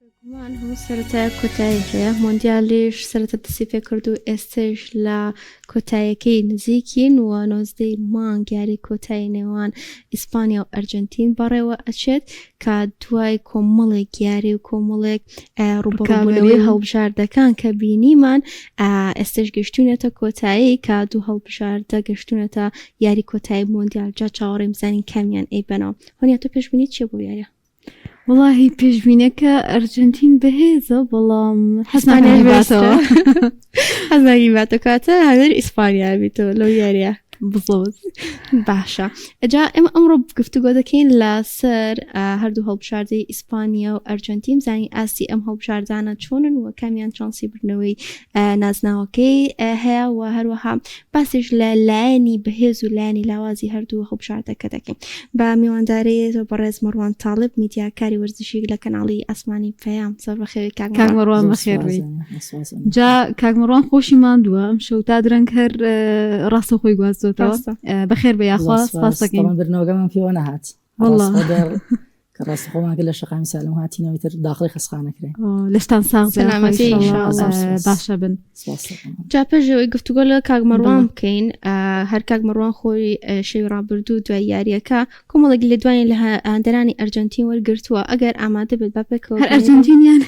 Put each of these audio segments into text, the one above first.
بێگومان هەموو سەرەتایەک کۆتایی هەیە، مۆندیالیش سەرەتا دەستی پێکرد و ئێستەیش لە کۆتاییەکەی نزیکین و نۆزدەی مانگ یاری کۆتایی نێوان ئیسپانیا و ئەرجەنتین بەڕێوەئەچێت، کە دوای کۆمەڵێک یاری و کۆمەڵێک ڕووبەڕووبوونەوەی هەڵبژاردەکان کە بینیمان ئێستەش گەشتوونەتە کۆتایی، کە دوو هەڵبژاردە گەشتوونەتە یاری کۆتایی مۆندیال، جا چاوەڕێین بزانین کامیان ئەیبەنەوە. هۆنیا تۆ پێشبینیت چییە بۆ یارییە؟ وەڵاهی پێشبینەکە ئەرجنتین بەهێزە بەڵام حەزمانێش باسەوە حەزاری باتەکاتە هەدەر ئیسپانیا بیتەوە لەو یاریە بزۆز باشە ئەجا ئێمە ئەمڕۆ گفتوگۆ دەکەین لەسەر هەردوو هەڵبژاردەی ئیسپانیا و ئەرجنتیم زانی ئاستی ئەم هەڵبژاردانە چۆنن و کامیان چانسی بردنەوەی نازناوەکەی هەیە و هەروەها باسیش لە لایەنی بەهێز و لایەنی لاوازی هەردوو هەڵبژاردەکە دەکەین بە میوانداریی بەڕێز مەڕوان تاڵب میدیاکاری وەرزشی لە کەناڵی ئاسمانی پەیام زۆر بەخێوی کاک کاک مەڕوان زۆر بەخێر سوپاس بێی دەکەم. سوپاس دەکەم. جا کاک مەڕوان خۆشی ماندووە ئەم شەو تا درەنگ هەر ڕاستە خۆی گواستۆتەوە ڕاستە. بەخێر بێ یاخوا زۆر سوپاس سوپاس دەکەین بەڵام برنەوەگەمان پێوە نەهات ڕاست خۆماگە لە شقامی سالم هاتینەوەی تر داخڵی خسخانەکرێن لەشتان ساغ سەلامەتی باشە بن جا پێژەوەی گفتوگۆ لە کاک مەڕوان بکەین هەر کاک مەڕوان خۆی شەوی ڕابردوو دوای یاریەکە کۆمەڵێک لە دوای لە هەندەرانی ئەرجنتین وەرگرتووە ئەگەر ئامادە بێت بە پێکەوە هەر ئەرجنتینیان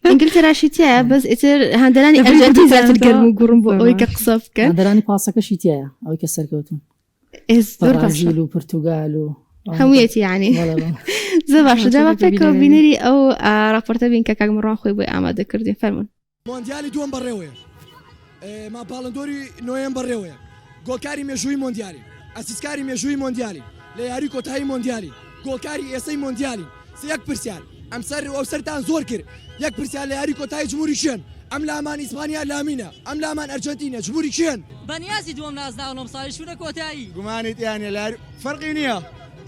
ئینگلتەراشی تایە بەس ئیتر هەندەرانی ئەرجنتی زیاتر گەرم و گوڕم بۆ ئەوەی کە قسە بکەن هەندەرانی پاسەکەشی تایە ئەوەی کە سەرکەوتون بەڕازیل و پرتوگال و هەموویەتی ینی زە باشە جاوە پێکەوە بینەری ئەو راپۆرتە بین کە کاگمڕان خۆی بۆی ئامادە کردی فەرمونون مۆندیالی دووەم بەڕێوەیە ماپاڵندۆری نوێن بەڕێوەیە گۆکاری مێژووی مۆندیالی ئەسیسکاری مێژووی مۆندیالی لە یاری کۆتایی مۆندیالی گۆکاری ئێسەی مۆندیالی یەک پرسیار ئەم سەر و ئەو سەرتان زۆر کرد یەک پرسیار لە یاری کۆتایی جمهوری کێن ئەم لامان ئیسپانیا لامینە ئەم لامان ئەرجەنتینە جمهوری کێن؟ بەنیازی دووەم نازناون ئەمساڵیش چوونە کۆتایی. گومانی تیا نیە لە فەرقی نیە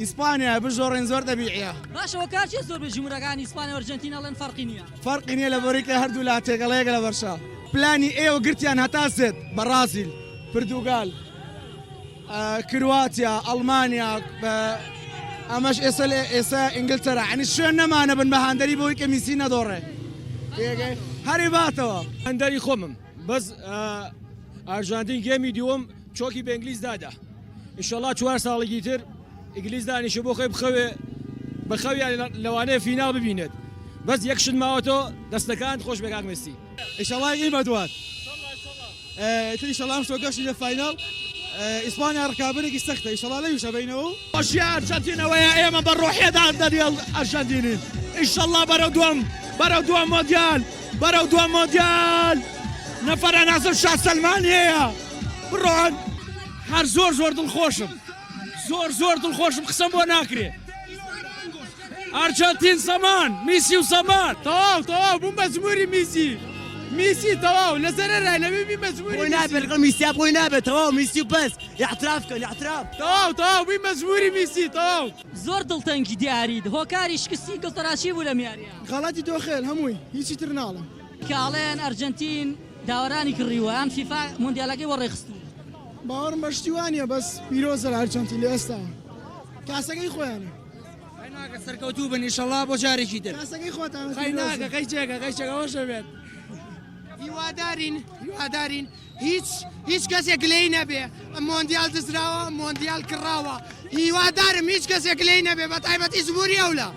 ئیسپانیا بشۆڕێن زۆر تەبیعیە. باشە هۆکار چیە زۆربەی جمهورەکان ئیسپانیا و ئەرجەنتین ئەڵێن فەرقی نیە؟ فەرقی نیە لە بریکە هەردوو لا تێکەڵەیەکە لە بەرشە. پلانی ئێوە گرتیان هەتا سێت، بەڕازیل، پرتوگال. کرواتیا ئەڵمانیا ئەمەش ئێستا لە ئێستا ئینگلتەرا عنی شوێن نەمانە بن بە هاندەری بۆی کە میسی نەدۆڕێ هەری باتەوە هەندەری خۆمم بەس ئارژانتین گێمی دووەم چۆکی بە ئینگلیس دادا ئیشەڵا چوار ساڵێکی تر ئینگلیس دانیشە بۆ خۆی بخەوێ بە خەویان لەوانەیە فیناڵ ببینێت بەس یەکشت ماوەتەوە دەستەکان خۆش بێکاک مسی ئیشەڵای ئیمە دوات. ئیتر ئیشەڵا ئەم شتۆکەش چیدە فاینەڵ ئیسپانیا ڕکابەرێکی سەختە ئیشەڵا لەویش ئەبەینەوە و خۆشی ئەرجەنتینەوەیە ئێمە بە ڕۆحیەدا دەریێڵ ئەرژەنتینین ئیشەڵا بەرەو دووەم بەرەو دووەم مۆندیال بەرەو دووەم مۆندیال نەفەرە نازم شا سەلمان هەیە بڕۆن هەر زۆر زۆر دڵخۆشم زۆر زۆر دڵخۆشم قسەم بۆ ناکرێ ئارجەنتین زەمان میسی و زەمان. تەواو تەواو بوم بە جموری میسی میسی تەواو لە زەرەرە لە بی بە جموری میسی. بۆی نابێ لەگەڵ میسیا بۆی نابێ تەواو میسی و بەس ئیعتراف کەن ئیعتراف. تەواو تەواو بوین بە جموری میسی تەواو. زۆر دڵتەنگی دیاریت هۆکاری شکستی گڵتەراچی بوو لەم یاریە. غەڵەتی تۆ خێل هەمووی هیچی تر ناڵێم. کە ئەڵێن ئەرجەنتین داوەرانی کڕیوە یان فیفا مۆندیالەکەی وەڕێ خستووە. باوەڕم بە شتی وا نیە بەس پیرۆزە لە ئەرجەنتین لە ئێستاوە کاسەکەی خۆیانە. سەرکەوتوو بن ئیشەڵا بۆ جارێکی تر خۆتانەوەشەبێت هیوادارین هیوادارین هیچ هیچ کەسێک لێی نەبێ مۆندیال دزراوە مۆندیال کراوە هیوادارم هیچ کەسێک لێی نەبێ بە تایبەتی زبووری ئەو لە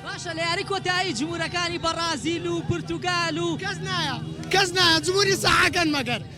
باشە لە یاری کۆتایی جمهورەکانی بەڕازیل و پرتوگال و کەس نایە کەس نایە جمهوری سەحاکەن مەگەر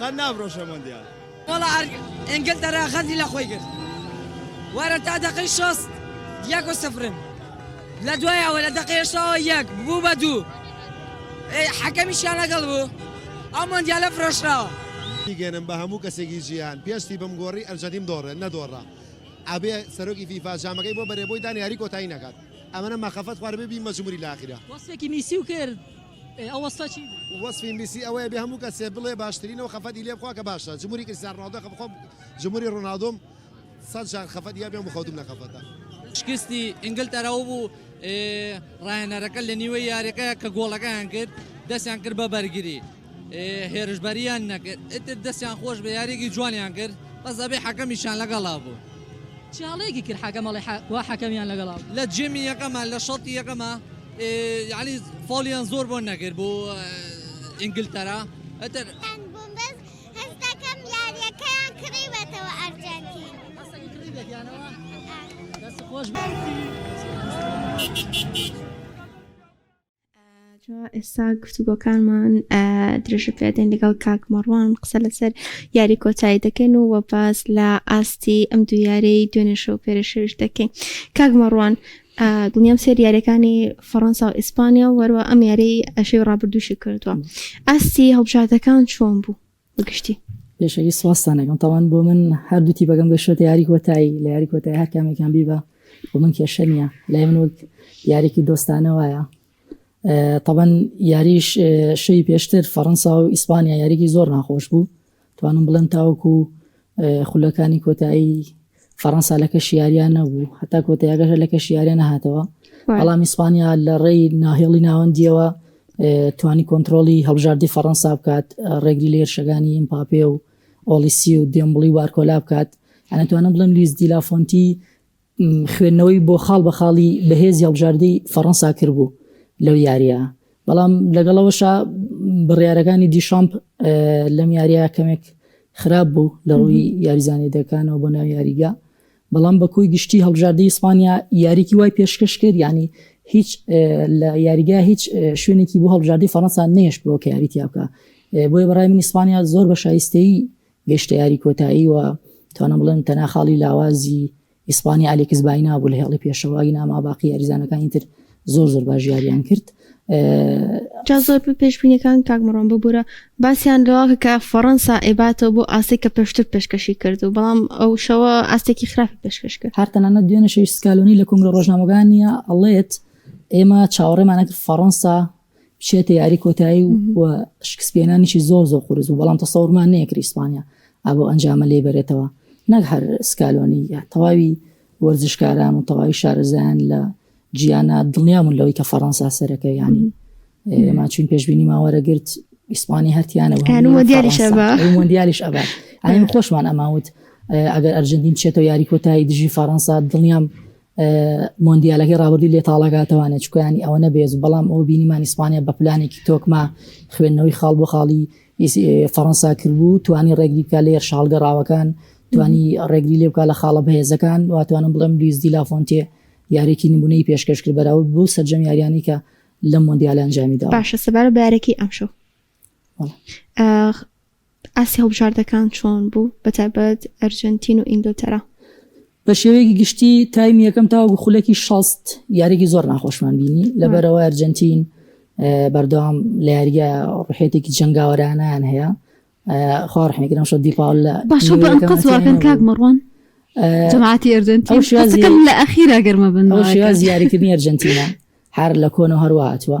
قەت نافرۆشە مۆندیال. وەڵا ئەر ئینگلتەرا غەدری لە خۆی کرد وەرە تا دەقەی شەست یەک و سفرن لە دوای ئەوە لە دەقەی هەشتاوە یەک بوو بە دوو ئەی حەکەمیشیان لەگەڵ بوو ئەو مۆندیالە فرۆشراوە. بیگەنم بە هەموو کەسێکی جیهان پێستی بم گۆڕی ئەرجەنتین دۆڕێ نەدۆڕا ئەبێ سەرۆکی فیفا جامەکەی بۆ بەرێ بۆی دان یاری کۆتایی نەکات ئەمنە مەخەفەت خواربێ بی مەجموری لاخیرە. وەسفێکی میسی و کرد. ئێ ئەو وەسفە چی بوو؟ وەسفی میسی ئەوەیە بێ هەموو کەسێ بڵێ باشترینە و خەفەتی لێ بخوا کە باشە جمهوری کریستیانو رۆناڵدۆ خەفەت خۆم جمهوری رۆناڵدۆم سەد جار خەفەت یا بێم و خەوتووم لە خەفەتا. شکستی ئینگلتەرا و بوو راهێنەرەکە لە نیوەی یاریەکەیا کە گۆڵەکەیان کرد دەستیان کرد بە بەرگری هێرشبەریان نەکرد ئیتر دەستیان خۆش بێ یاریەکی جوانیان کرد بەس ئەبێ حەکەمیشیان لەگەڵا بوو. چیاڵێکی کرد حەکەم ئەڵێ حە وا حەکەمیان لەگەڵا بوو. لە جێمی یەکەما لە شەوتی یەکەما یانی فۆڵیان زۆر بۆن نەکرد بۆ ئینگلتەرا ئەتر خۆش جا ئێستا گفتوگۆکانمان درێژە پێدەین لەگەڵ کاک مەڕوان قسە لەسەر یاری کۆتایی دەکەین و وەباز لە ئاستی ئەم دوو یارەی دوێنێشە و پێرەشەویش دەکەین کاک مەڕوان دڵنیام سێر یاریەکانی فەڕەنسا و ئیسپانیا و وەروە ئەم یاری ئەشی ڕابردووشی کردووە ئاستی هەڵبژاردەکان چۆن بوو بگشتی پێشەکی سوواستانەکەم تاوان بۆ من هەردوو تیبەکەم گەشتە یاری کۆتایی لە یاری کۆتای هەر کامێکان بیبە بۆ من کێشە نیە لای من وەک یارێکی دۆستانە وایە طبعاً یاریش شەی پێشتر فەڕەنسا و ئیسپانیا یاریکی زۆر ناخۆش بوو توانم بڵێن تاوەکو خولەکانی کۆتایی فەڕەنسا لە کەشیاریان نەبوو هەتا کۆتیاگەشە لە کەشیاریان نەهاتەوە بەڵام ئیسپانیا لە ڕێی ناهێڵی ناوەندیەوە توانی کۆنتترۆلی هەڵبژاردی فەڕەنسا بکات ڕێگری لە هێرشەکانی ئیمپاپێ و ئۆلیسی و دێمبڵی وارکۆلا بکات ئەنەتوانم بڵم لیز دیلافۆنتی خوێندنەوەی بۆ خاڵ بە خاڵی بەهێزی هەڵبژاردەی فەڕەنسا کردبوو لەو یارییە، بەڵام لەگەڵ ئەوەشا بڕیارەکانی دیشامپ لەم یارییە کەمێک خراپ بوو لە ڕووی یاریزانانی دەکانەوە بۆ ناو یاریگە. بەڵام بە کۆی گشتی هەڵبژاردەی ئیسپانیا یاریکی وای پێشکەش کرد یعنی هیچ لە یاریگا هیچ شوێنێکی بۆ هەڵبژاردەی فەڕەنسا نێشتەوە کە یاریتیا بکە بۆیە بەڕای من ئیسپانیا زۆر بە شایستەی گەیشتە یاری کۆتایی و توانم بڵێم تەنها خاڵی لاوازی ئیسپانی ئالیکس باینا بوو لە هێڵی پێشەوە ئیناما باقی یاریزانەکانی تر زۆر زۆر باش یاریان کرد جا زۆر پێشبینەکان کاکمڕۆن ببوورە باسییان لەواکە کە فەڕەنسا ئێباتەوە بۆ ئاستی کە پێشتر پێشکەشی کرد و بەڵام ئەو شەوە ئاستێکی خراپی پێشکەش کرد هەرتەنانە دوێنە شەوی سکالۆنی لە کنگرە ڕۆژنامەگانە ئەڵێت ئێمە چاوەڕێمانەکە فەڕەنسا بچێتە یاری کۆتایی و شکسپێنانیشی زۆر زۆر قورس و بەڵام تەسەورمان نەیەکری ئیسپانیا ئابۆ ئەنجامە لێ بەرێتەوە نەک هەر سکالۆنی تەواوی وەرزشکاران و تەواوی شارەزایان لە جیانە دڵنیامون لەوەی کە فەڕەنسا سەرەکە ینی ئێمە چون پێشببینی ماوەرەگرت ئیسپانی هەرتیانەوە دیاریش ئەبات ئاین خۆشمان ئەماوت ئەگەر ئەرجنتین چێتەوە یاری کۆتایی دژی فەڕەنسا دڵنیام مۆندیالەکەی ڕابردوی لێ تاڵەگاتەوانە چکیانی ئەوە نەبێت بەڵام ئەو بینیمان ئیسپانیا بە پلانێکی تۆکما خوێندنەوەی خاڵ بۆ خاڵی فەڕەنسا کردبوو توانی ڕێگری بکە لێر شاڵگەڕاوەکان توانی ڕێگری لێ بکە لە خاڵە بەهێزەکان واتوانم بڵێم لویز دیلافۆنتێ یارێکی نمونەی پێشکەش کرد بەراو بۆ سەررجەم یاریانی کە لە مۆندیالانجامیدا باشە سەبارە بارەکەی ئەمشەو ئاستی هەڵبژاردەکان چۆن بوو بە تایبەت ئەرجەنتین و ئینگلتەرا؟ بە شێوەیەکی گشتی تایمی یەکەم تاوەکو خولەکی شەست یاریێکی زۆر ناخۆشمان بینی لەبەرەوە ئەرجەنتین بەردەوام لە یاریگە ڕحێتێکی جەنگاوەرانیان هەیە خواڕحێکرم شە دیپاول لە باشە بە ئەنقەزواکەن کاک مەڕوان جماعتی ئەرجنتی شازەکەم لە ئەخیرا گەرمە بن شێواز یاریکردنی ئەرجنتینا هەر لە کۆن و هەرواتوە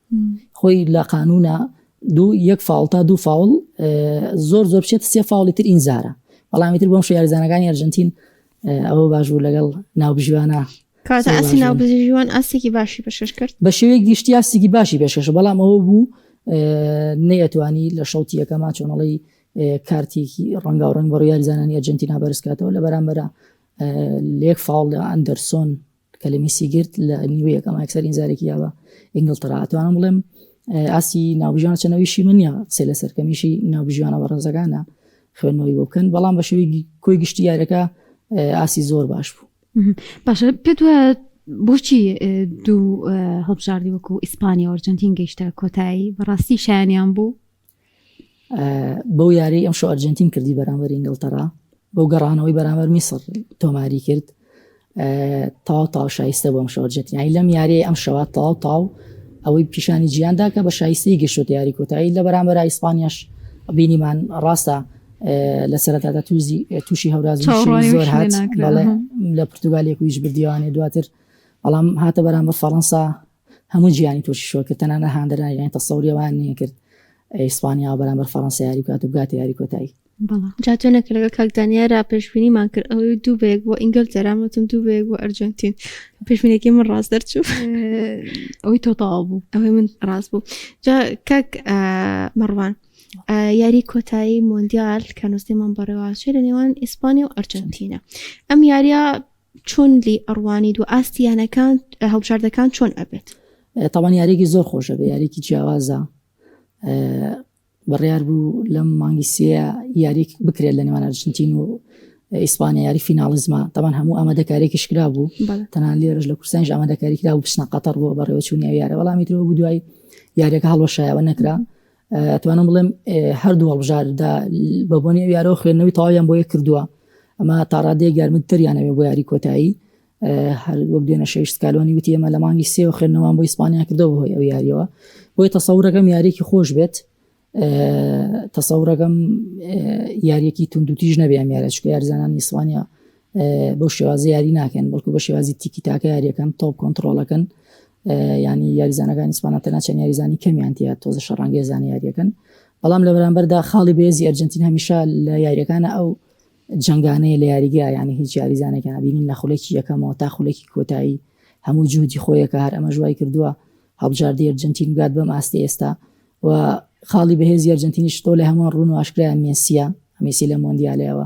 خۆی لە قانوونە دوو یەک فاوڵ تا دوو فاوڵ زۆر زۆر بچێت سێ فاوڵی تر ئینزارە بەڵامی تر بۆم شوێارزانەکانی ئەرجنتین ئەوە باش بوو لەگەڵ ناوبژیوانە کاتە ئەسی ناوبژیوان ئاستێکی باشی پێشکەش کرد بە شێوەیەک گشتی ئاستێکی باشی پێشکەش بەڵام ئەوە بوو نەیەتوانی لە شەوتی یەکەما چۆنەڵی کارتێکی ڕەنگا و ڕنگ بە ڕیاریزانانی ئەرجنتینا بەرزکاتەوە لە بەرامبەرە لێک فاڵ لە ئەندەرسۆن کەلمی سیگرت لە نیوەیەک ئەمە ئەکسەر ئینزارێکی یاوە ئینگلتەرا ئەتوانم بڵێم ئاسی ناوبژیان چەنەویشی من نیە قسە لە سەرکەمیشی ناوبژیانە بە ڕێزەکانە خوێندنەوەی بۆ بکەن بەڵام بە شێوی کۆی گشتی یارەکە ئاسی زۆر باش بوو باشە پێت بۆچی دوو هەڵبژاردی وەکو ئیسپانیا ئۆرجنتین گەیشتە کۆتایی بەڕاستی شایانیان بوو بەو یاری ئەم شو ئەرجنتین کردی بەرامبەر ئینگلتەرا بەو گەڕانەوەی بەرامبەر میسر تۆماری کرد تاو تاو شایستە بۆم شو ئەرجنتینای لەم یاری ئەم شەوە تاو تاو ئەوەی پیشانی جیاندا کە بە شایستی گەشت یاری کۆتایی لە بەرامبەر ئیسپانیاش بینیمان ڕاستە لە سەرەتادا توزی تووشی هەورازی زۆر هات لە پرتگالێک ویش بردیوانێ دواتر بەڵام هاتە بەرامبەر فەڕەنسا هەموو جیانی تووشی شۆک کرد تەنانەت هاندەرانی یانی تەسەوری ئەوان نەکرد ئیسپانیا و بەرامبەر فەڕەنسا یاری بکات و بگاتە یاری کۆتایی بەڵام جا تۆنە کە لەگەڵ کاک دانیا را پێشبینیمان کرد ئەوەی دوو بەیەک بۆ ئینگلتەرا وتم دوو بەیەک بۆ ئەرجەنتین پێشبینێکی من ڕاست دەرچوو ئەوەی تۆ تەواو بوو ئەوەی من ڕاست بوو جا کاک مەڕوان یاری کۆتایی مۆندیال کە نووسیمان بەڕێواشێ لە نێوان ئیسپانیا و ئەرجەنتینە ئەم یاریە چۆن لی ئەڕوانیت و ئاستی یانەکان هەڵبژاردەکان چۆن ئەبێت؟ تاوان یاریێکی زۆر خۆشە بە یاریێکی جیاوازە بڕیار بوو لەم مانگی سێ یاریێک بکرێت لە نێوان ئەرجنتین و ئیسپانیا یاری فیناڵزما تاوان هەموو ئەمە دەکارێکی شکرا بوو تەنها لێرش لە کورسانش ئەمە دەکاریکرا و بچنە قەتەر بۆ بەڕێوەچوونی یارە وەڵامی درەوە بوو دوای یاریەکە هەڵەشایەوە نەکرا توانم بڵێم هەردوو هەڵبژاردا بە بۆنی ئەو یارەوە خوێندنەوەی تەواویان بۆیە کردووە ئەمە تاڕادەیە گەرمت تریانەوێ بۆ یاری کۆتایی هەر وەک دوێنە شەویشت کالۆنی وتی ئێمە لە مانگی سێوە خوێندنەوەمان بۆ ئیسپانیا کردەوە بۆی ئەو یاریەوە بۆی تەسەورەکەم یاریێکی خۆش بێت تەسەورەکەم یاریەکی توندوتیژ نەبێ ئەم یارە چکە یارزانانی ئیسپانیا بەو شێوازی یاری ناکەن بەڵکو بە شێوازی تیکی تاکە یاریەکەن تۆپ کۆنتترۆلەکەن ینی یاریزانەکانی سپانە تەناچەن یاریزانی کەمیانتیە تۆزە شەڕانگە زانیاریەکەن بەڵام لە بەرامبەردا خاڵی بێزی ئەرجنتین هەمیشە لە یاریەکانە ئەو جنگانەیە لە یاریگە ینی هیچ یاریزانێکیان بینین لە خولێکی یەکەمەوە تا خولێکی کۆتایی هەموو جوودی خۆیەکە هەر ئەمە ژوای کردووە هەڵبژاردی ئەرجنتین گات بەم ئاستی ئێستا و خاڵی بەهێزی ئەرجنتینیش تۆ لە هەمووان ڕوون و ئاشکرایان مێسیە هەمیسی لە مۆندیالەوە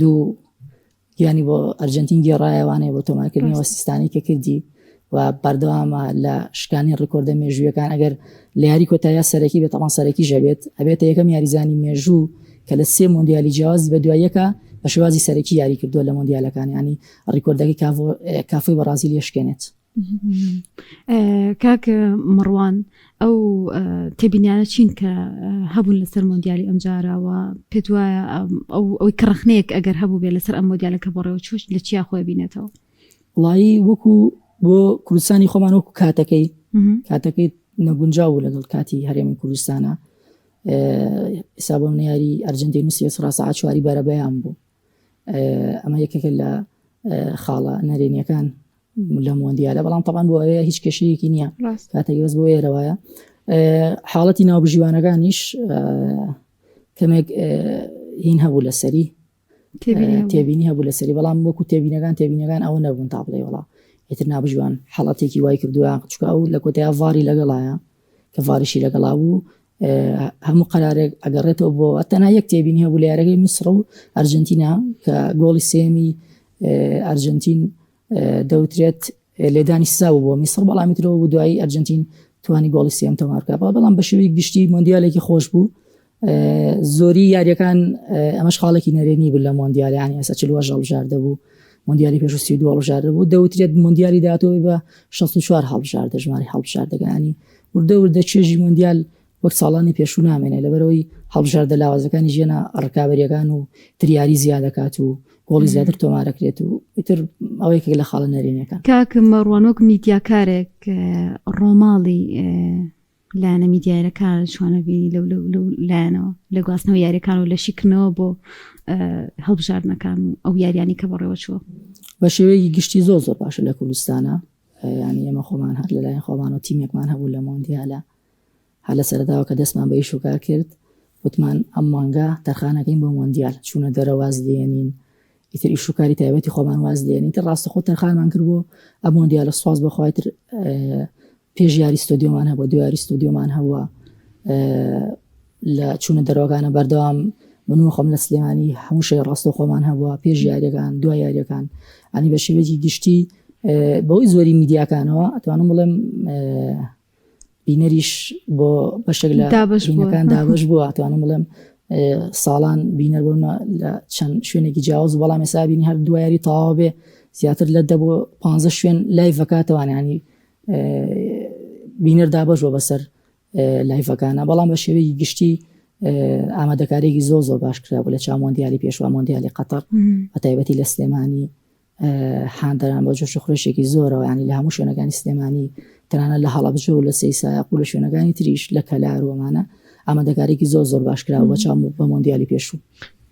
دوو گیانی بۆ ئەرجنتین گێڕایەوانەیە بۆ تۆمارکردنەوە سیستانی کە کردی و بەردەوامە لە شکانی ڕیکۆردە مێژوویەکان ئەگەر لە یاری کۆتاییا سەرەکی بێت تەمان سەرەکی ژەبێت ئەبێتە یەکەم یاریزانی مێژوو کە لە سێ مۆندیالی جیازی بە دواییەکە بە شێوازی سەرەکی یاری کردووە لە مۆندیالەکان ینی ڕیکۆردەکەی کافۆی بەڕازیل یشکێنێت کاک مەڕوان ئەو تێبینیانە چین کە هەبوون لەسەر مۆندیالی ئەمجارەوە پێت وایە ئەوەی کە ڕخنەیەک ئەگەر هەبوو بێ لەسەر ئەم مۆدیالەکە بەڕێوە چۆش لە چیا خۆی بینێتەوە وڵایی وەکو بۆ کوردستانی خۆمان وەکو کاتەکەی کاتەکەی نەگونجاو بوو لەگەڵ کاتی هەرێمی کوردستانە حسابم نیاری ئەرجنتی نووسی سڕاستە ئاچواری بەرەبەیان بوو ئەمە یەکێکە لە خاڵە نەرێنیەکان لەم وەندیالە بەڵام تەبان بۆ ئەوەیە هیچ کێشەیەکی نییە کاتێک بەس بۆ ێرەوەە حاڵەتی ناوبژیوانەکانیش کەمێک هین هەبوو لەسەری تێبینی هەبوو لەسەری بەڵام وەکو تێبینەکان تێبینەکان ئەوە نەبوون تا بڵێ وڵا ئیتر نابژوان حڵەتێکی وای کردووە چکە ئەو لە کۆتای ڤاری لەگەڵایە کە ڤاریشی لەگەڵا بوو هەموو قەرارێک ئەگەڕێتەوە بۆ تەنا یەک تێبینی هەبوو لە یارەکەی میسر و ئەرجنتینا کە گۆڵی سێمی ئەرجنتین دەوترێت لێدانی سزا بوو بۆ میسر بەڵامی ترەوە بوو دوایی ئەرجنتین توانی گۆڵی سێم تەمارکە بەڵام بە شێوی گشتی مۆندیالێکی خۆش بوو زۆری یاریەکان ئەمەش خاڵێکی نەرێنی بوو لە مۆندیالیانی ئەسە چ وەژە هەڵژاردە بوو مندیالی پێش سی دو هەڵژاردە بوو دەوترێت مندیالی دااتەوەی بە 64 هەڵژاردە ژماری هەڵژاردەکانی وردە وردە چێژی مۆندیال وەک ساڵانی پێشوو نامێنێت، لەبەرئەوەی هەڵبژاردە لاوازەکانی ژیەنە ڕکابەرییەکان و تر یاری زیادەکات و گۆڵی زیاتر تۆمارەکرێت و ئیتر ئەوەی کە لە خاڵە نەرێنەکان کاک مەڕوانۆک میدیاکارێک ڕۆماڵی لایەنە میدیایەکان چۆنەبی لەو لایەنەوە لە گواستنەوە یاریەکان و لە شیکردنەوە بۆ هەڵبژاردنەکان ئەو یاریانی کە بەڕێوە چوە بە شێوەیەکی گشتی زۆر زۆر باشە لە کوردستانە یانی ئێمە خۆمان هەر لەلایەن خۆمانەوە تیمێکمان هەبوو لە مۆندیالە هەر لە سەرەداوە کە دەستمان بە ئیش و کار کرد وتمان ئەم مانگە تەرخانەکەین بۆ مۆندیال چوونە دەرەواز لێنین ئیتر ئیش و کاری تایبەتی خۆمان واز لێنین تر ڕاستە خۆ تەرخانمان کرد بۆ ئە مۆندیالە سواز بەخوای تر پێش یاری ستۆدیۆمان هەبوو دویاری ستۆدیۆمان هەوە لە چوونە دەرەوەکانە بەردەوام من و خۆم لە سلێمانی هەموو شەی ڕاستەوخۆمان هەبووە پێش یاریەکان دوای یاریەکان ئەنی بە شێوەیەکی گشتی بەوەی زۆری میدیاکانەوە ئەتوانم بڵێم بینەریش بۆ بەشێک لە دابشەکان دابش بووە توانم بڵێم ساڵان بینەر بوون لە چەند شوێنێکی جیاوز بەڵام ێسابینی هەر دوایری تاوا بێ زیاتر لە دە بۆ پ شوێن لای ڤکاتەوانانی بینەر دابش بۆ بەسەر لایڤەکانە بەڵام بە شێوەیەکی گشتی ئامادەکارێکی زۆر زۆر باش کرا بوو لە چا مۆندیالی پێشوا مۆندیالی قەتەر بە تایبەتی لە سلێمانی حاندەران بە جۆش خورشێکی زۆرەوە ینی لە هەموو شوێنەکانی سلێمانی تەنانە لە هەڵەبجە و لە سی سایق و لە شوێنەکانی تریش لە کەلاروەمانە ئامادەکارێکی زۆر زۆر باشکرا بە چاو بە مۆندیالی پێشوو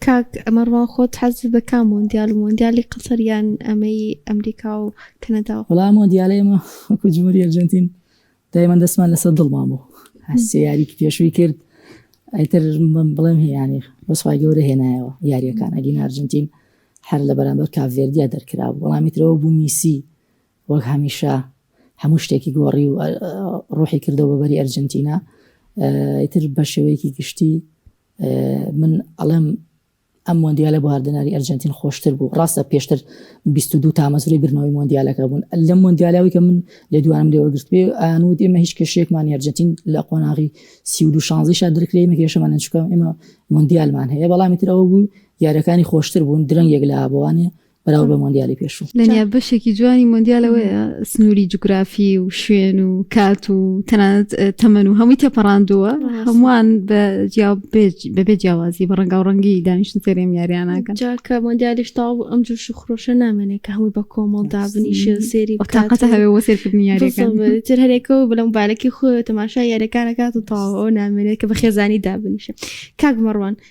کاک ئەمەڕوا خۆت حەز دەکا مۆندیال و مۆندیالی قەسەریان ئەمەی ئەمریکا و کەنەدا وڵام مۆندیالێمە وەکو جمهوری ئەرجنتین دایمان دەستمان لەسەر دڵمان بوو هەسێ یاریکی پێشووی کرد ئەتر من بڵێم هیانی بەسخوای گەورە هێنایەوە یاریەکان ئەگین ئارجنتین هەر لە بەرامبەر کاڤێردیا دەرکرا وەڵامیترەوە بوو میسی وەک هەمیشە هەموو شتێکی گۆڕی و ڕۆحی کردەوە بەبەری ئەرجنتینا ئیتر بە شێوەیەکی گشتی من ئەڵێم ئەم مۆندیالە بۆ هەردەناری ئەرجەنتین خۆشتر بوو، ڕاستە پێشتر بیست و دوو تامەزرۆی بردنەوەی مۆندیالەکە بوون، لەم مۆندیالە ئەوەی کە من لێدوانم لێوەگرتبێ ئەیان وت ئێمە هیچ کێشەیەکمان نیە، ئەرجەنتین لە قۆناغی سی و دوو شانزەیشا درکرێ ئێمە کێشەمان نیە چونکە ئێمە مۆندیالمان هەیە، بەڵامی تر ئەوە بوو یاریەکانی خۆشتر بوون درەنگێک لە ئابەوانێ بەراورد بە مۆندیالی پێشوو لەنیا بەشێکی جوانی مۆندیالەوەیە سنووری جوگرافی و شوێن و کات و تەنانەت تەمەن و هەمووی تێپەڕاندووە هەمووان بەبێ جیاوازی بە ڕەنگا و ڕەنگی دانیشتن سەرێم یاریانەکە جاکە مۆندیالیش تاو بوو ئەم جوش و خرۆشە نامێنێت کە هەمووی بە کۆمەڵ دابنی شێسێری تاقەتە هەوێ وە سێرکردنی یاریتر هەرێکەوە بلەم بالێکی خۆ تەماشا یاریەکانەکات و تاوەوە نامێنێت کە بە خێزانی دابنیشە کاک مەڕوان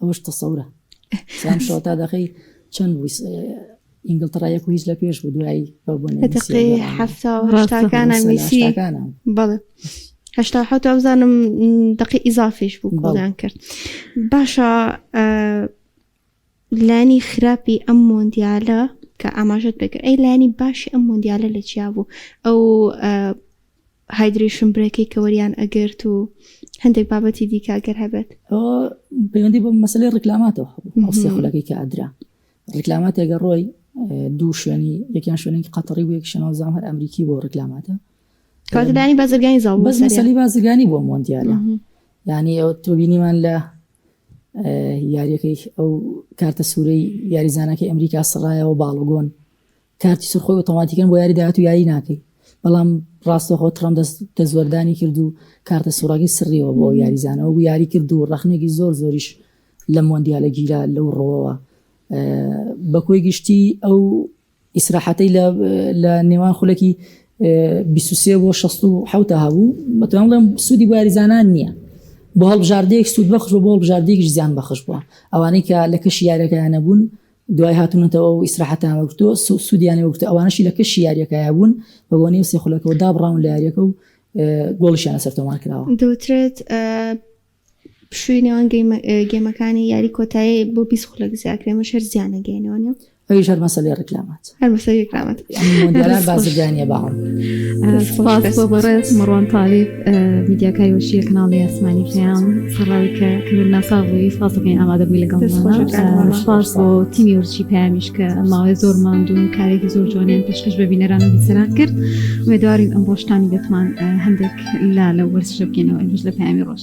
ئەوەش تەسەورە سام شۆتا دەخی چەند ئینگلتەڕا یەک هیچ لە پێش بوو دوایی بەبوونەکانە میسی بەڵێ هشتا حوت ئەوزانم دقی ئیزافیش بوو بۆڵیان کرد باشە لانی خراپی ئەم مۆندیالە کە ئاماژت بکە ئەی لانی باشی ئەم مۆندیالە لە چیا بوو ئەو هایدرەیشن برێکەی کە وەریان ئەگرت و هەندێک بابەتی دیکە گەر هەبێت پەیوەندی بۆ مەسلەی ڕیکلاماتەوە هەڵسێ خولەکەی کە ئەدرا ڕیکلاماتێگە ڕۆی دوو شوێنی یەکیان شوێنێکی قەتەڕی و یەک شەنەوە زام هەر ئەمریکی بۆ ڕیکلاماتە کاتدانی بازرگانی زاڵ بەس مەسەلی بازرگانی بۆ مۆندیالە یعنی ئەو تۆبینیمان لە یاریەکەی ئەو کارتە سوورەی یاریزانەکەی ئەمریکا سڕایەوە باڵگۆن کارتی سەرخۆی ئۆتۆماتیکەن بۆ یاری داهاتوو یاری ناکەی بەڵام ڕاستەخۆ تڕەمپ دەست دەستوەردانی کرد و کارتە سوڕەکەی سڕیەوە بۆ یاریزانەوە و یاری کرد و ڕەخنێکی زۆر زۆریش لە مۆندیالە گیرا لەو ڕۆەوە بە کۆی گشتی ئەو ئیسراحەتەی لە نێوان خولەکی 23 بۆ 16 هەبوو بەتوان بڵێم سوودی بۆ یاریزانان نییە بۆ هەڵبژاردەیەک سوود بەخش بۆ هەڵبژاردەیەکیش زیان بەخش بووە ئەوانەی کە لە کەشی یارەکەیان نەبوون دوای هاتنتەوە و ئیسراحەتیان وەرگرتووە سوودیانی وەرگرتووە، ئەوانەشی لە کەشی یارییەکە هەبوون بە بۆنەی سێ خولەکەوە دابڕاون لە یارییەکە و گۆڵیشیان لەسەر تۆمار کراوە. دەوترێت پشووی نێوان گێمەکانی یاری کۆتایی بۆ بیست خولەک زیاکرێ، ئەمەش هەر زیانەگەیەنەوە نیە؟ ئەویش هەر مەسەلەی ڕیکلامات. هەر بەسەر یەکرامەت مۆندیالان بازرگانیە بەڵام سپاس بۆ بەڕێز مەڕوان تالیب میدیاکای وەشیە کەناڵی ئاسمانی پێیان سەڕاوی کە کردن ناساغی سپاسەکەین ئامادە بووی لەگەڵ سپاس بۆ تیمی ورچی پامیش کە ماوەی زۆر ماندوون کارێکی زۆر جوانیان پێشکەش بە بینەران و بیسەران کرد وێدارین ئەم ڕۆشتانی بێتمان هەندێک لا لە وەرزشە بکەینەوە ئەمش لە پامی ڕۆژ.